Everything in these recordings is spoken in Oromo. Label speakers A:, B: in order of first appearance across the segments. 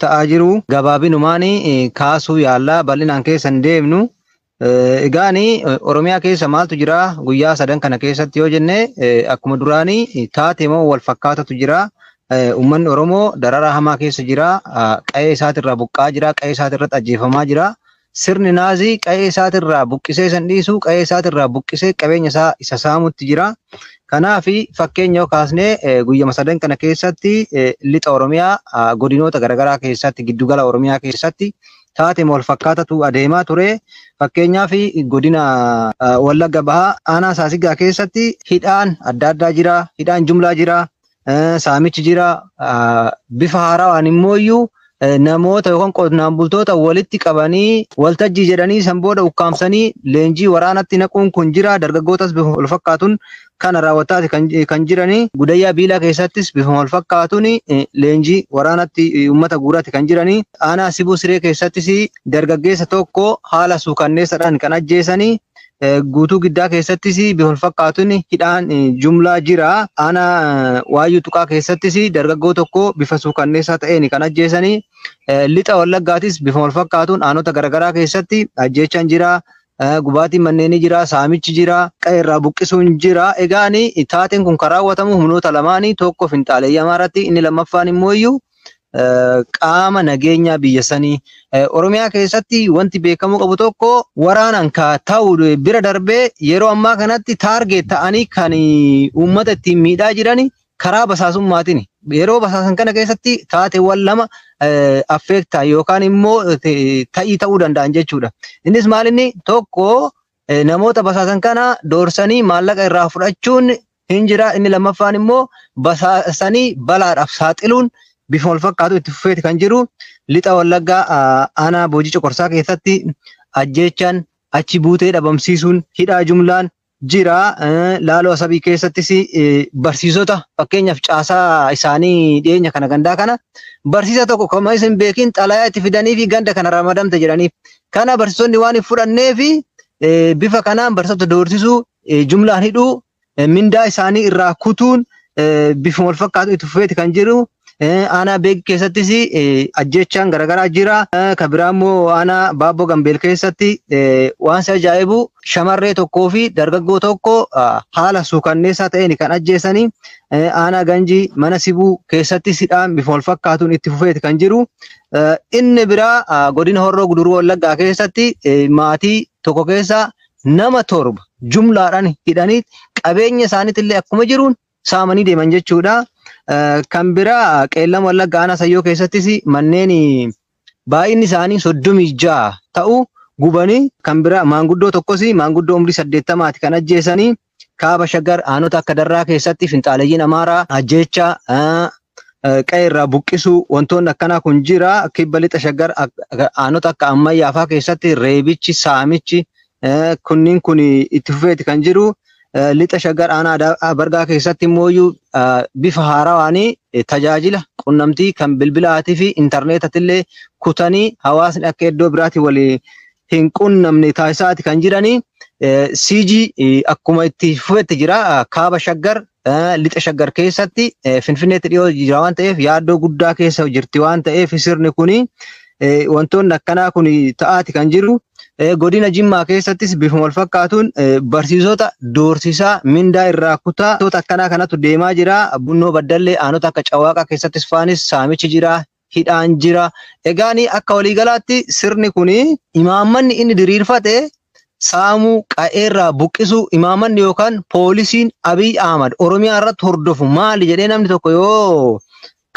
A: ta'aa jiru gabaabinumaan kaasuu yaallaa bal'inaan keessa hin deemnu. Egaan Oromiyaa keessa maaltu jira guyyaa sadan kana keessatti yoo jenne akkuma duraanii taatee moo wal fakkaatatu jira. Uummanni Oromoo dararaa hamaa keessa jira. Qa'ee isaatirraa buqqaa jira. Qa'ee isaatirratti ajjeefamaa jira. Sirni Naazii qa'ee isaatirraa buqqisee isa hin dhiisu, qa'ee isaatirraa buqqisee qabeenya isaa isa saamutti jira. Kanaaf fakkeenya yoo kaasne guyyama sadan kana keessatti lixa Oromiyaa godinoota garaagaraa keessatti giddugala Oromiyaa keessatti taatee wal fakkaatatu adeemaa ture. Fakkeenyaaf godina Wallagga Bahaa aanaa Saasigaa keessatti hidhaan adda addaa jira, hidhaan jumlaa jira, Saamichi jira. Bifa haarawaan immoo iyyuu namoota yookaan qonnaan bultoota walitti qabanii waltajjii jedhanii san booda ukkaamsanii leenjii waraanatti naquun kun jira. Dargaggootas bifa wal fakkaatuun kana raawwataati kan jiranii. Gudayyaa Biilaa keessattis bifa wal fakkaatuun leenjii waraanatti uummata guuraatti kan jiranii. Aanaa Sibuu Siree keessattis dargaggeessa tokko haala suukanneessaadhaan kan ajjeesanii. Guutuu Giddaa keessattis bifa wal fakkaatuun hidhaan jumlaa jira. Aanaa Waayyuu Tuqaa keessattis dargaggoo tokko bifa suukanneessaa ta'een kan ajjeesanii. Lixa Wallaggaatis bifa wal fakkaatuun aanota garaagaraa keessatti ajjeechaan jira. Gubaatiin manneenii jira, saamichi jira, qe'ee irraa buqqisuun jira. Egaan taateen kun kan raawwatamu humnoota lamaanii tokko finxaaleeyyii Amaaraatti inni lammaffaan immoo iyyuu qaama nageenyaa biyya sanii Oromiyaa keessatti wanti beekamuu qabu tokko waraanaan ka ta'u bira darbee yeroo ammaa kanatti taargeet ta'anii kan uummata ittiin miidhaa jiran karaa basaasummaatiin yeroo basaasan kana keessatti taateewwan lama affeektaa yookaan immoo ta'ii ta'uu danda'an jechuudha. Innis maalinni tokko namoota basaasan kana doorsanii maallaqa irraa fudhachuun hin jira. Inni lammaffaan immoo basaasanii balaadhaaf saaxiluun bifa wal fakkaatu itti fufeeti kan jiru. Lixa Wallaggaa aanaa Boojii Coqorsaa keessatti ajjeechaan achi buutee dhabamsiisuun hidhaa jumlaan jira. Laaloo Asabii keessattis barsiisota fakkeenyaaf caasaa isaanii dhiyeenya kana gandaa kana barsiisa tokko kan isin beekin xalayaa itti fidanii fi ganda kana ramadamte jedhaniif. Kana barsiisonni waan hin fudhannee fi bifa kanaan barsiisota doorsisuu jumlaan hidhuu, mindaa isaanii irraa kutuun bifuma wal fakkaatu itti fufeeti kan jiru. Aanaa beek keessattis ajjeechaan garaagaraa jira. Kan biraa immoo aanaa baaboo gambeel keessatti waan si ajaa'ibu shamarree tokkoo fi dargaggoo tokko haala suukanneessaa ta'een kan ajjeesanii aanaa ganjii mana sibuu keessattis hidhaan bifuma wal fakkaatuun itti fufeeti kan jiru. Inni biraa godina horroo guduruu wallaggaa keessatti maatii tokko keessa nama torba jumlaadhaan hidhanii qabeenya isaaniitillee akkuma jiruun saamanii deeman jechuudha. Kan biraa qeellam wallagga aanaa sayyoo keessattis manneen baay'inni isaanii soddomii ja'a ta'u gubanii kan biraa maanguddoo tokkos maanguddoo umrii saddeettamaati kan ajjeesanii Kaaba Shaggar aanota akka Darraa keessatti finxaaleyyiin Amaaraa ajjeechaa, qe'ee irraa buqqisuu wantoonni akkanaa kun jira. Kibba lixa Shaggar aanota akka Ammayyaa fa'aa keessatti reebichi, saamichi kunniin kun itti fufeeti kan jiru. Lixa Shaggar aanaa Bargaa keessatti immoo bifa haarawaanii tajaajila qunnamtii kan bilbilaatii fi intarneetatillee kutanii hawaasni akka iddoo biraatii walii hin qunnamne taasisaati kan jiranii. CG akkuma itti fufetti jira kaaba shaggar lixa shaggar keessatti finfinneetti dhiyoo jira waan ta'eef yaaddoo guddaa keessa jirti waan ta'eef sirni kuni wantoonni akkanaa kun ta'aati kan jiru. Godina Jimmaa keessattis bifuma wal fakkaatuun barsiisota doorsisaa mindaa irraa kutaa wantoota akkanaa kanatu deemaa jira. Bunnoo Baddallee aanota akka Cawwaaqaa keessattis faanis saamichi jira. hidhaan jira. Egaan akka waliigalaatti sirni kun imaammanni inni diriirfate saamuu, qa'eerraa buqqisuu, imaammanni yookaan poolisiin Abiy Ahmad Oromiyaa irratti hordofu maali jedhee namni tokko yoo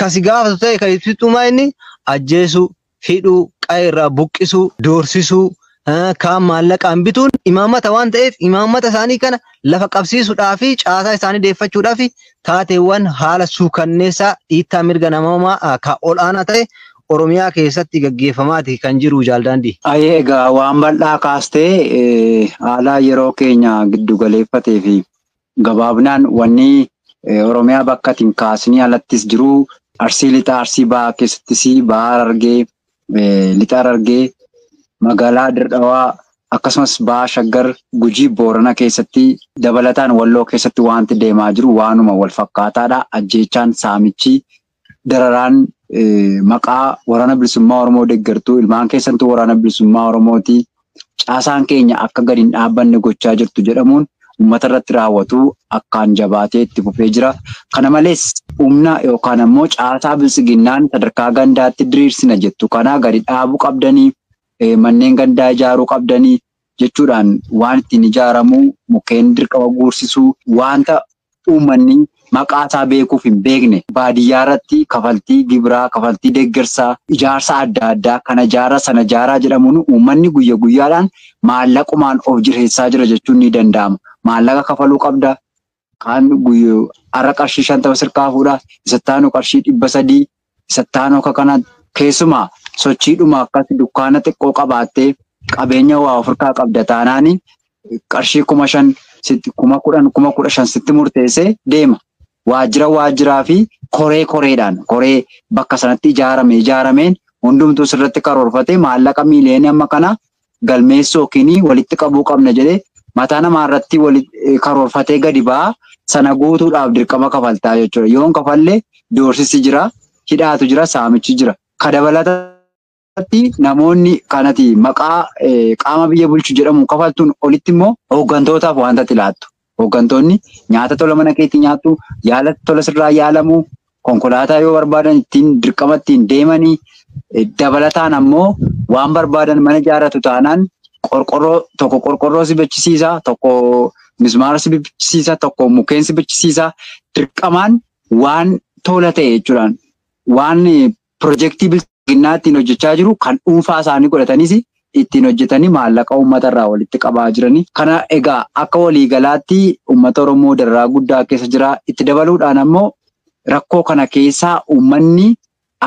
A: kasi gaafatu ta'e kan ibsitu inni ajjeesuu, hidhuu, qa'eerraa buqqisuu, doorsisuu, ah, kaan maallaqaan bituun imaammata waan ta'eef imaammata isaanii kana lafa qabsiisuudhaa fi caasaa isaanii deeffachuudhaa fi taateewwan haala suukanneessaa dhiittaa mirga namoomaa ah, ka ol'aanaa ta'e Oromiyaa keessatti gaggeeffamaati kan jiru jaaldaandii. Ayee egaa waan
B: bal'aa kaastee eh, haala yeroo keenya giddu galeeffatee fi Gabaabnaan wanni Oromiyaa bakka ati hin kaasnii alattis jiru Arsii Lixaa, Arsii Bahaa keessattis Baha Harargee, Lixa Harargee, Magaalaa Dir Dhawaa akkasumas Baha Shaggar, Gujii, Boorana keessatti dabalataan Walloo keessatti waanti deemaa jiru waanuma wal fakkaataadha. Ajjeechaan, saamichi, dararaan maqaa waraana bilisummaa Oromoo deeggartuu ilmaan keessantu waraana bilisummaa Oromooti caasaan keenya akka gadi hin dhaabbanne gochaa jirtu jedhamuun uummata irratti raawwatu akkaan jabaatee itti fufee jira. Kana malees humna yookaan ammoo caasaa bilisiginnaan sadarkaa gandaatti diriirsina jettu kana gadi dhaabuu qabdanii manneen gandaa ijaaruu qabdanii jechuudhaan waan ittiin ijaaramu, mukkeen dirqama guursisuu, waanta uummanni maqaa isaa beekuuf hin beekne baadiyyaa irratti kafaltii gibiraa, kafaltii deeggarsaa, ijaarsa adda addaa kana ijaaraa sana ijaaraa jedhamuun uummanni guyya guyyaadhaan maallaqumaan of jireessisaa jira jechuun ni danda'ama. Maallaqa kafaluu qabda, Kaan guyyuu har'a qarshii shantama sirkaa fuudha. Isatti aanu qarshii dhibba sadii. Isatti aanu akka kana keessumaa sochiidhuma akkas dukkaana xiqqoo qabaattee qabeenya waa ofirkaa qabda taanaani qarshii kuma shan sitti kuma kudhan kuma kudha shan sitti murteessee deema. Waajjira waajjiraa fi koree koreedhaan koree bakka sanatti ijaarame ijaarameen hundumtuu sirratti karoorfatee maallaqa miiliyoonii amma kana galmeessuu yookiin walitti qabuu qabna jedhee mataa namaa irratti karoorfatee gadi ba'a. Sana guutuudhaaf dirqama kafaltaa jechuudha. Yoon kafalle doorsisi jira, hidhaatu jira, saamichi jira. Ka dabalatatti namoonni kanati maqaa qaama biyya bulchu jedhamu kafaltuun olitti immoo hooggantootaaf wanta ati laattu. Hooggantoonni nyaata tola mana keetti nyaattu, yaala tola sirraa yaalamu, konkolaataa yoo barbaadan ittiin dirqama ittiin deemanii dabalataan ammoo waan barbaadan mana ijaarratu taanaan qorqorroo tokko qorqorroo si bachisiisa, tokko mismaara si bachisiisa, tokko mukkeen si bachisiisa. Dirqamaan waan tola ta'e jechuudhaan waan Pirojektii Bilxiginnaa ittiin hojjechaa jiru kan dhuunfaa isaanii godhatanis ittiin hojjetanii maallaqa uummata irraa walitti qabaa jirani. Kana egaa akka waliigalaatti uummata Oromoo dararaa guddaa keessa jira. Itti dabaluudhaan ammoo rakkoo kana keessaa uummanni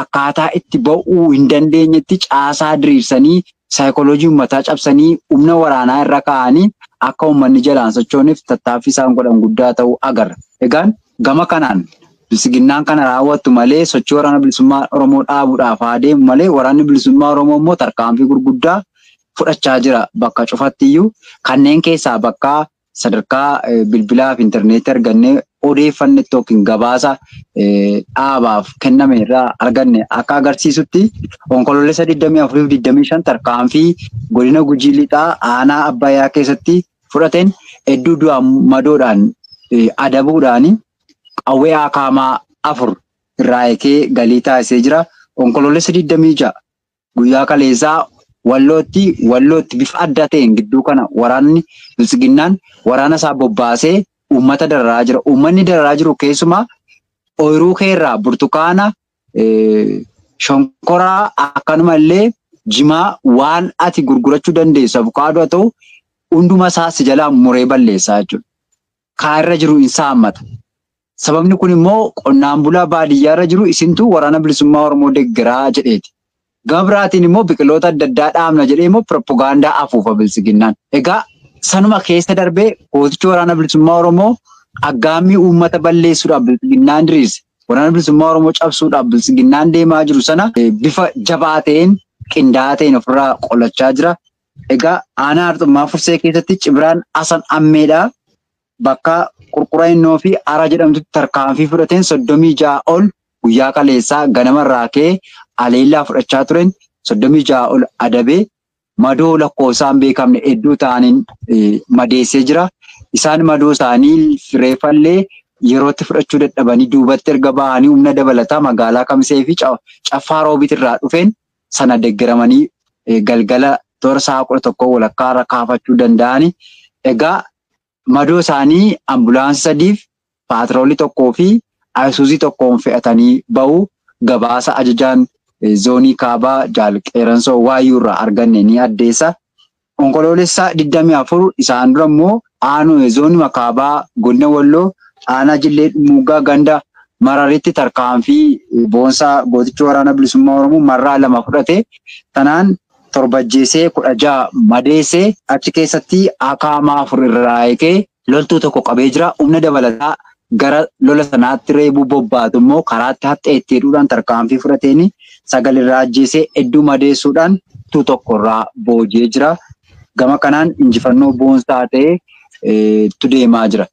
B: akkaataa itti ba'uu hin dandeenyetti caasaa diriirsanii saayikooloojii ummataa cabsanii humna waraanaa irra kaa'anii akka ummanni jalaa hin sochooneef tattaaffii isaan godhan guddaa ta'uu agarra. Egaan gama kanaan Biltsiginnaan kana raawwattu malee sochii Waraana Bilisummaa Oromoo dhaabuudhaaf haa deemu malee Waraanni Bilisummaa Oromoo immoo tarkaanfii gurguddaa fudhachaa jira bakka cufattiyyuu. Kanneen keessaa bakka Sadarkaa bilbilaa fi interneetii argannee odeeffannetti yookiin gabaasa dhaabaaf kenname irraa arganne akka agarsiisutti onkoloolessa 24-25 tarkaanfii godina Gujii Lixaa aanaa Abbayyaa keessatti fudhateen hedduu du'aan madoodhaan adabuudhaan qawwee akaamaa afur irraa eekee galii taasisee jira. Onkoloolessa 26 Guyyaa kaleessaa Wallootti Wallootti bifa adda ta'een gidduu kana waraanni Biltsiginnaan waraana isaa bobbaasee uummata dararaa jira. Uummanni dararaa jiru keessumaa ooyiruu keerraa burtukaana, shonkoraa akkanuma illee jimaa waan ati gurgurachuu dandeessu abukaadoo haa ta'u hunduma isaa si jalaa muree balleessaa jechuudha. kaa irra jiru in saammata. Sababni kun immoo qonnaan bulaa baadiyyaa irra jiru isintu waraana bilisummaa Oromoo deggeraa jedheeti. Gama biraatiin immoo biqiloota adda addaa dhaabna jedhee immoo piropogaandaa afuufa bilsiginnaan. Egaa sanuma keessa darbee gootichi waraana bilisummaa Oromoo aggaammii uummata balleessuudhaaf bilsiginnaan diriirse. Waraana bilisummaa Oromoo cabsuudhaaf bilsiginnaan deemaa jiru sana bifa jabaa ta'een qindaa'aa ta'een ofirraa qolachaa jira. Egaa aanaa Arxummaa Fursee keessatti Cibraan Asan Ammeedhaa bakka Qurqura Innoo fi Araa jedhamtutti tarkaanfii fudhateen 36 ol guyyaa kaleessaa ganama irraa ka'ee aleellaa fudhachaa tureen 36 ol adabee madoo lakkoofsaa hin beekamne hedduu ta'aniin madeessee jira. Isaan madoo isaanii reeffallee yerootti fudhachuu dadhabanii duubatti erga bahanii humna dabalataa magaalaa Kamisee fi Caffaa Roobiit irraa dhufeen sana deggeramanii galgala toora sa'a kudha tokkoo walakkaa irra kaafachuu danda'ani. Egaa madoo isaanii ambulaansii sadiif paatiroolii tokkoo fi ayisuuzii tokkoon fe'atanii ba'u gabaasa ajajaan zoonii kaabaa jaal Qeeransoo Waayyuu irraa arganne ni addeessa. Onkoloolessa 24 isaan dura immoo Aanuye Zoonuma Kaabaa Godina Walloo Aanaa Jillee Dhummuuggaa Ganda Mararitti tarkaanfii boonsaa gootichi Waraana Bilisummaa Oromoo marraa lama fudhate tanaan 7 ajjeesee 16 madeesse achi keessatti akaamaa 4 irraa hiikee Loltuu tokko qabee jira. Humna dabalataa gara lola sanaatti reebuu bobbaatu immoo karaatti haxxee itti hidhuudhaan tarkaanfii fudhateen sagal irraa ajjeesee hedduu madeessuudhaan loltuu tokko irraa booji'ee jira. Gama kanaan injifannoo boonsaa ta'e tu deemaa jira.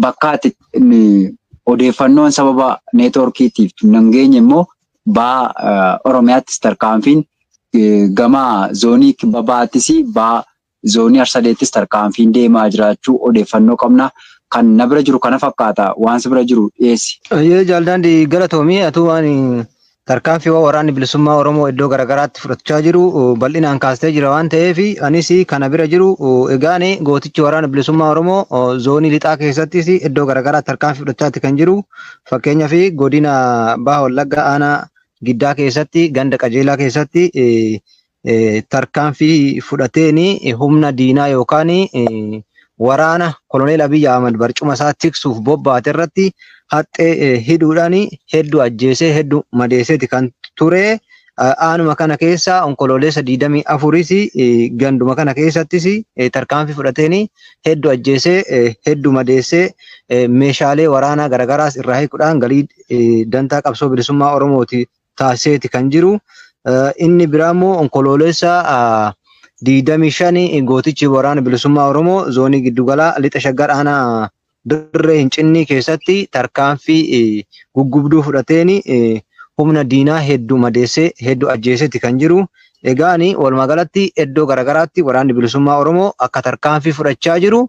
B: Bakkaatti odeeffannoon sababa neetwoorkiitiif nan geenye immoo baha Oromiyaattis tarkaanfiin gama zoonii kibba bahaattis baha Zoonii Harsaleettis tarkaanfiin deemaa jiraachuu odeeffannoo qabna. Kan na bira jiru kana fakkaata. Waan si bira jiru dhiyeessi. Hayyee Jaal Daandii
A: galatoomi. Atuu waan tarkaanfiiwwan waraanni bilisummaa Oromoo iddoo garaagaraatti fudhachaa jiru bal'inaan kaastee jira waan ta'eef anis kana bira jiru egaan gootichi waraana bilisummaa Oromoo zoonii lixaa keessattis iddoo garaagaraatti tarkaanfii fudhachaatti kan jiru fakkeenyaaf godina Baha Wallaggaa aanaa Giddaa keessatti ganda qajeelaa keessatti tarkaanfii fudhateen humna diinaa yookaan waraana koloneel Abiy Ahmad barcuma isaa tiksuuf bobbaate irratti haxxee hidhuudhaan hedduu ajjeesee hedduu madeesseeti kan ture. Aanuma kana keessa onkoloolessa 24s ganduma kana keessattis tarkaanfii fudhateen hedduu ajjeesee hedduu madeessee meeshaalee waraanaa garagaraas irraa hiikuudhaan galii dantaa qabsoo bilisummaa Oromooti taasiseeti kan jiru. Inni biraa immoo onkoloolessa 25 gootichi waraana bilisummaa Oromoo zoonii giddugalaa lixa shaggar aanaa dirree hin cinnii keessatti tarkaanfii guggubduu fudhateen humna diinaa hedduu madeessee hedduu ajjeeseeti kan jiru. Egaan walumaa galatti iddoo garaagaraatti waraanni bilisummaa Oromoo akka tarkaanfii fudhachaa jiru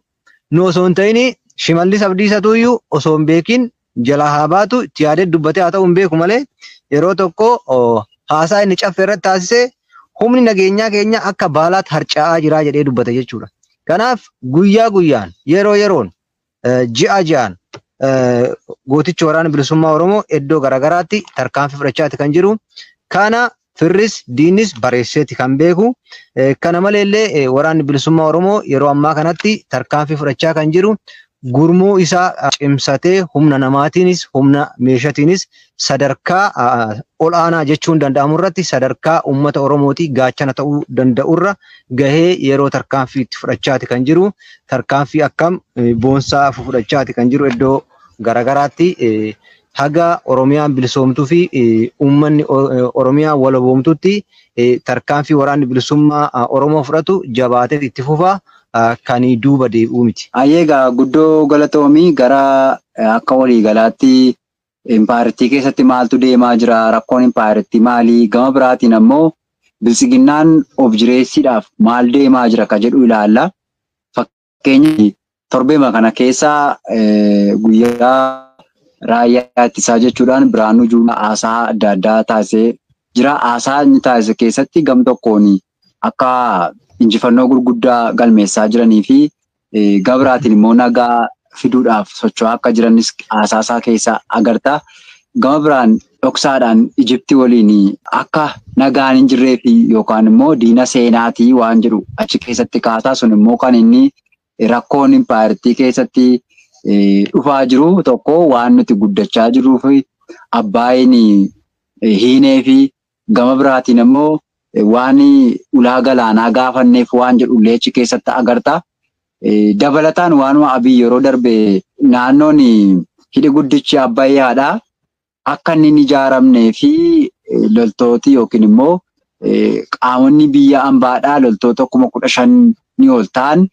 A: nu osoo hin ta'ini Shimallis Abdiisatu iyyuu osoo hin beekin jalaa haa baatu itti yaadee dubbatee haa ta'u hin beeku malee yeroo tokko haasaa inni caffee irratti taasise humni nageenyaa keenya akka baalaatti harca'aa jiraa jedhee dubbate jechuudha. Kanaaf guyyaa guyyaan yeroo yeroon ji'a ji'aan gootichi waraana bilisummaa Oromoo iddoo garaagaraatti tarkaanfii fudhachaati kan jiru. Kana Firris diinnis bareesseeti kan beeku. Kana maleellee waraanni bilisummaa Oromoo yeroo ammaa kanatti tarkaanfii fudhachaa kan jiru gurmuu isaa cimsatee humna namaatiinis humna meeshatiinis sadarkaa ol'aanaa jechuun danda'amu irratti sadarkaa uummata Oromootii gaachana ta'uu danda'urra gahee yeroo tarkaanfii itti fudhachaati kan jiru tarkaanfii akkam boonsaa fudhachaati kan jiru iddoo garagaraatti haga Oromiyaan bilisoomtuu fi uummanni Oromiyaa walaboomtutti tarkaanfii waraanni bilisummaa Oromoo fudhatu jabaatee itti fufa kan duuba deebi'uu miti. Hayyee egaa guddoo
B: galatoomi gara akka waliigalaatti impaayerittii keessatti maaltu deemaa jira rakkoon impaayerittii maali gama biraatiin ammoo biltsiginnaan of jireessiidhaaf maal deemaa jira ka jedhu ilaalla. Fakkeenyaaf torbeema kana keessa guyyaa raayyaa ittisaa jechuudhaan Birhaanuu Juulaa haasaa adda addaa taasisee jira. Haasaa inni taasise keessatti gam tokkoon akka injifannoo gurguddaa galmeessaa jiranii fi gabraatiin immoo nagaa fiduudhaaf socho'aa akka jiranis haasaa isaa keessa agarta. Gama biraan dhoksaadhaan Ijipti waliin akka nagaan hin jirree fi yookaan immoo diina seenaatii waan jedhu achi keessatti kaasaa sun immoo kan inni rakkoon impaayerittii keessatti dhufaa jiru tokko waan nuti guddachaa jirruu fi abbaayin hiinee fi gama biraatiin immoo waan ulaa galaanaa gaafanneef waan jedhu illee achi keessatti agarta. Dabalataan waanuma abii yeroo darbe naannoon hidhi guddichi abbayyaadha. akka inni hin ijaaramnee fi loltooti yookiin immoo qaamonni biyya ambaadhaa loltoota kuma kudha shan ni ol ta'an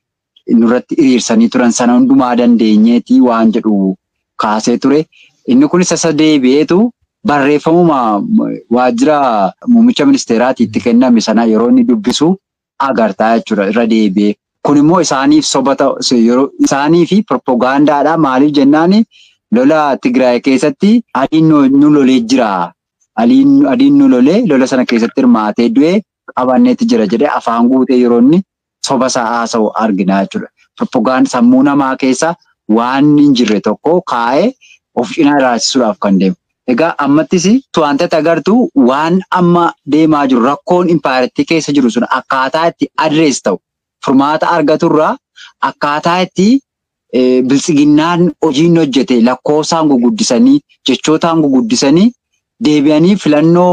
B: nurratti hiriirsanii turan sana hundumaa dandeenyeeti waan jedhu kaasee ture. Inni kunis isa deebi'eetu barreeffamuma waajjira muummicha ministeeraati itti kenname sana yeroo inni dubbisu agartaa jechuudha irra deebi'ee. Kun immoo isaaniif soba yeroo isaanii fi proppagandaadha maaliif jennaan lola Tigraay keessatti adiin nu lolee jira. Adiin nu lolee lola sana keessatti hirmaatee du'e qabanneetti jira jedhee afaan guutee yeroo inni soba isaa haasa'u arginaa jechuudha. Proppagandaa sammuu namaa keessa waan hin jirre tokko kaa'ee of cinaa ilaalchisuudhaaf kan deemu. Egaa ammattis waantati agartu waan amma deemaa jiru rakkoon impaayerattii keessa jiru sun akkaataa itti address ta'u, furmaata argatu irraa akkaataa itti biltsiginnaan hojii inni hojjete lakkoofsaan guguddisanii, jechootaan guguddisanii deebi'anii filannoo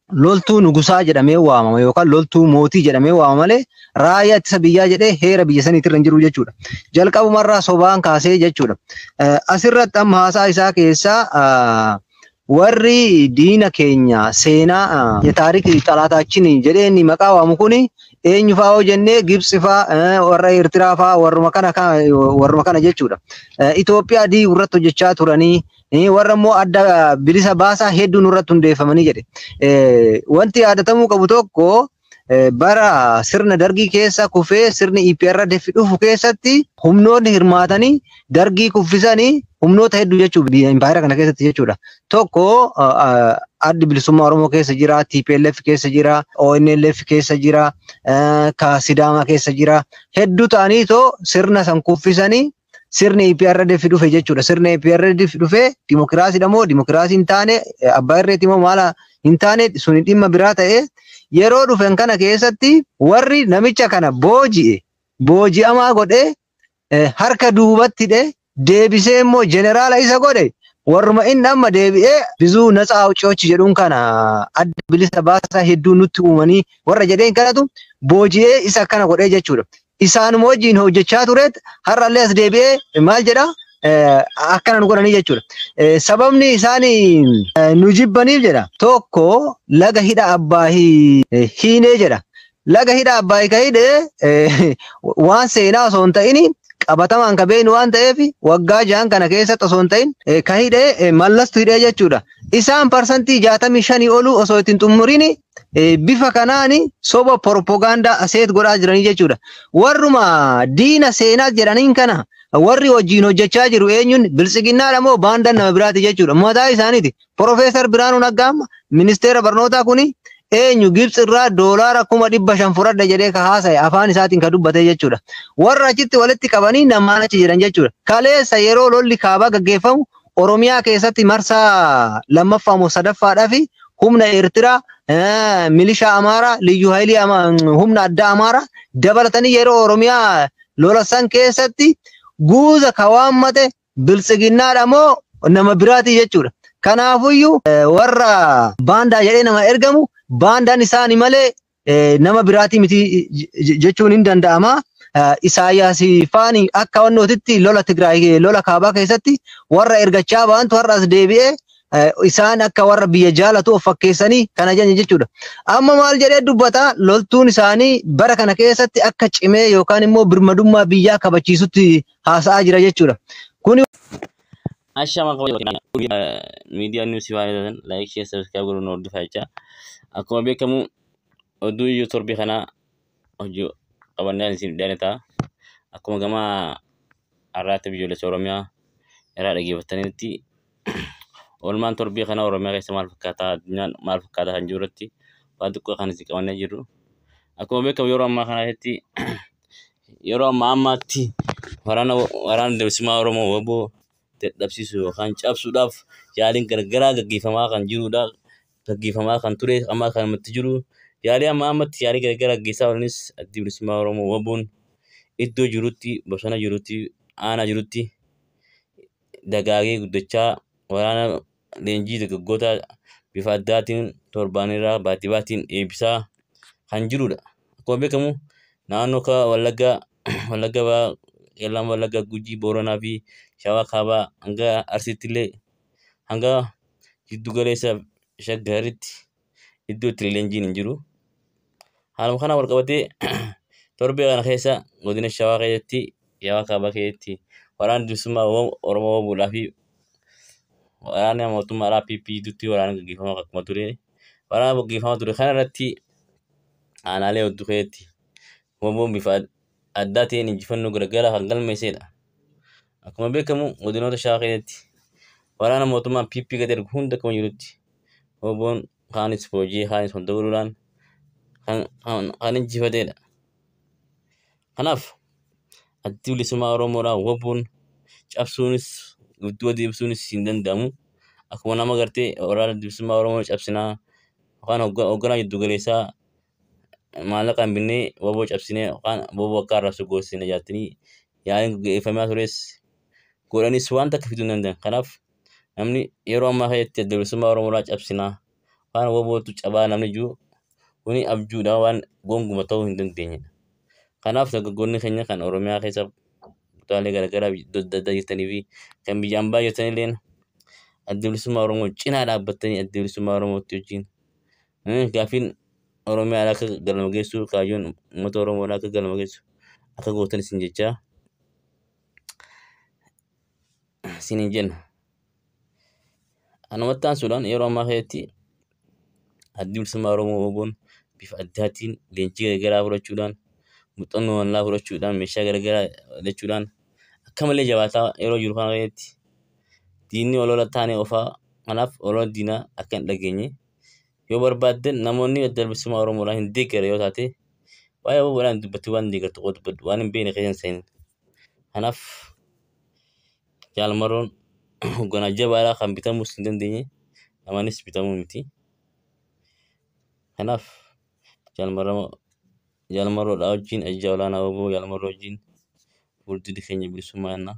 A: loltuu nugusaa jedhamee waamama yookaan loltuu mootii jedhamee waamama malee raayyaa ittisa biyyaa jedhee heera biyya saniitti irra hin jiru jechuudha. Jalqabumarraa sobaan kaasee jechuudha. Eh, Asirratti amma haasaa isaa keessaa ah, warri diina keenya seenaa ah, taariik xalaataachiin jedhee inni maqaa waamu kuni eenyu fa'aa yoo jennee Gibsi fa'aa eh, warra Eertiraa fa'aa warruma kana ka- warruma kana jechuudha. Eh, Itoophiyaa diiguu irratti hojjechaa turanii warra immoo adda bilisa baasaa hedduu nurratti hundeeffamanii jedhe. Wanti yaadatamuu qabu tokko bara sirna dargii keessa kufee sirni EPRDF dhufu keessatti humnoonni hirmaatanii dargii kuffisanii humnoota hedduu jechuun impaayera kana keessatti jechuudha. Tokko addi bilisummaa Oromoo keessa jira, TPLF keessa jira, ONLF keessa jira, ka Sidaamaa keessa jira. Hedduu ta'anii too sirna san kuffisanii sirni EPRDF dhufe jechuudha. Sirni EPRDF dhufe dimokiraasiidha moo dimokiraasii hin taane abbaa irreetti moo maala hin taane suni dhimma biraa ta'e yeroo dhufen kana keessatti warri namicha kana booji'e booji'amaa godhee eh, harka duubatti hidhee deebisee immoo jeneraala isa godhe warruma inni amma deebi'ee bizuu natsaa awucoochi jedhuun kana adda bilisa baasaa hedduu nutti uumanii warra jedheen kanatu booji'ee isa akkana godhee jechuudha. isaanuma wajjin hojjechaa tureet har'allee as deebi'ee maal jedha akkana nu godhanii jechuudha. Sababni isaan nu jibbaniif jedha tokko laga hidha abbaahii hiinee jedha. Laga hidha abbaahii ka hidhe waan seenaa osoo hin ta'in qabatamaan ka beeknu waan ta'eef waggaa jahan kana keessatti osoo hin ta'in ka hidhe mallastu hidhee jechuudha. Isaan parsantii jaatamii shanii oluu osoo ittiin xumuriin eh, bifa kanaan soba propagaandaa aseet godhaa jiranii jechuudha. Warruma diina seenaa jedhaniin kana warri wajjin hojjechaa jiru eenyuun biltsiginnaadha moo baandaan nama biraati jechuudha. Mataa isaaniiti. Profeesar Birhaanuu Naggaa amma ministeera barnootaa kuni eenyu Gibtsi irraa doolaara kuma dhibba shan fudhadha jedhee ka haasa'e afaan isaatiin ka dubbate jechuudha. Warra achitti walitti qabanii namaan achi jedhan jechuudha. Kaleessa yeroo lolli kaabaa gaggeeffamu Oromiyaa keessatti marsaa lammaffaa moo sadaffaadhaaf humna Eertiraa, eh, milishaa Amaaraa, liyyuu haayilii Ama- humna addaa Amaaraa dabalatanii yeroo Oromiyaa lola san keessatti guuza ka waammate biltsiginnaadha moo nama biraatii jechuudha. Kanaafuyyuu eh, warra baandaa jedhee nama ergamu baandaan isaani malee nama biraatii miti jechuun hin danda'ama. Isaayyaas faani akka wannootitti lola Tigraay lola kaabaa keessatti warra ergachaa baantu har'as deebi'ee isaan akka warra biyya jaalatu of fakkeessanii kana janye jechuudha. Amma maal jedhee dubbata loltuun isaanii bara kana keessatti akka cimee yookaan immoo birmadummaa biyyaa kabachiisutti haasa'aa jira jechuudha. Kuni
C: Ashama miidiyaa niwusii waan ilaalan laayik shee sabiskiraayib godhuun nu hordofaa jecha akkuma beekamu oduu iyyuu torbii kana hojii qabannee isin dhiyaanne ta'a akkuma gama har'aatti biyyoolessa Oromiyaa irraa dhaggeeffattanitti oolmaan torbii kana Oromiyaa keessa maal fakkaata addunyaan maal fakkaata kan jiru irratti waan xiqqoo kan isin qabannee jirru akkuma beekamu yeroo ammaa kana keessatti yeroo ammaa ammaatti waraana waraana bilisummaa Oromoo wbo dadhabsiisuu yookaan cabsuudhaaf yaaliin gargaraa gaggeeffamaa kan jirudha. Gaggeeffamaa kan ture amma kan ammatti jiru yaalii amma ammatti yaalii gargaraa gaggeessaa oolanis addi bilisummaa Oromoo wboon iddoo jirutti bosona jirutti aanaa jirutti dagaagee guddachaa waraana leenjii dargaggootaa bifa addaatiin torbaanirraa baatii baatiin eebbisaa kan jirudha. Akkuma beekamu naannoo akka Wallaggaa, Wallagga Bahaa, Qeellam Wallaggaa, Gujii, Booranaa fi Shawaa Kaabaa hanga Arsiittillee hanga Giddu Galeessa Shaggaritti iddoo itti leenjiin hin jiru. Haaluma kanaan wal qabatee torbee kana keessa godina Shawaa keessatti Shawaa Kaabaa keessatti waraanni bilisummaa Oromoo wabuudhaa fi waraana mootummaa alaa PP gidduutti waraana gaggeeffamaa akkuma ture waraana gaggeeffamaa ture kana irratti aanaalee hedduu keessatti waboon bifa addaa ta'een injifannoo garagaraa kan galmeessedha. Akkuma beekamu godinoota shawaa keessatti waraana mootummaan PP gad ergu hunda akkuma jirutti hooboon kaanis booji'ee kaanis wal dabaluudhaan kan, kan, kan injifatedha. Kanaaf addi bilisummaa Oromoodhaa wabuun cabsuunis gidduu adeemsuunis hin danda'amu. Akkuma nama gartee waraana bilisummaa Oromoo cabsinaa yookaan hoogganaa jiddu galeessaa maallaqa hin binnee waboo cabsinee yookaan waboo akka arrabsu goosisina jaattanii yaa'iin gaggeeffamaa tures godhanis waan takka fiduu hin danda'an. Kanaaf namni yeroo ammaa keessatti adda bilisummaa Oromoodhaa cabsinaa waan wabootu cabaa namni jiru kuni abjuudha waan gonguma ta'uu hin dandeenyedha. Kanaaf dargaggoonni keenya kan Oromiyaa keessa kutaalee garaagaraa adda addaa jirtanii fi kan biyya ambaa jirtanilleen adda bilisummaa Oromoo cinaa dhaabbattanii adda bilisummaa Oromootti wajjin Innis gaaffiin Oromiyaa alaa akka galma geessu, kaayyoon uummata Oromoo alaa akka galma geessu akka gootan isin jechaa isin hin jenna. Anumatti aansuudhaan yeroo ammaa keessatti addi bilisummaa Oromoo OBOn bifa addaatiin leenjii garaagaraa fudhachuudhaan muuxannoo bal'aa fudhachuudhaan meeshaa garaagaraa hidhachuudhaan akka malee jabaataa yeroo jiru kana keessatti diinni olola taanee ofaa kanaaf olola diinaa akka hin dhageenye Yoo barbaadde namoonni adda bilisummaa Oromoodhaan hin deeggare yoo taate waa'ee Oromoodhaan dubbattee waan deeggartu qofa dubbadhu waan hin beekne keessa hin seenin. Kanaaf jaalmaroon hoogganaa jabaadhaa kan bitamuus hin dandeenye namanis bitamuu miti. Kanaaf jaalmaroo jaalmaroodhaa wajjin ajjaa olaanaa oboo jaalmaroo wajjin fuuldurri keenya bilisummaa jennaa.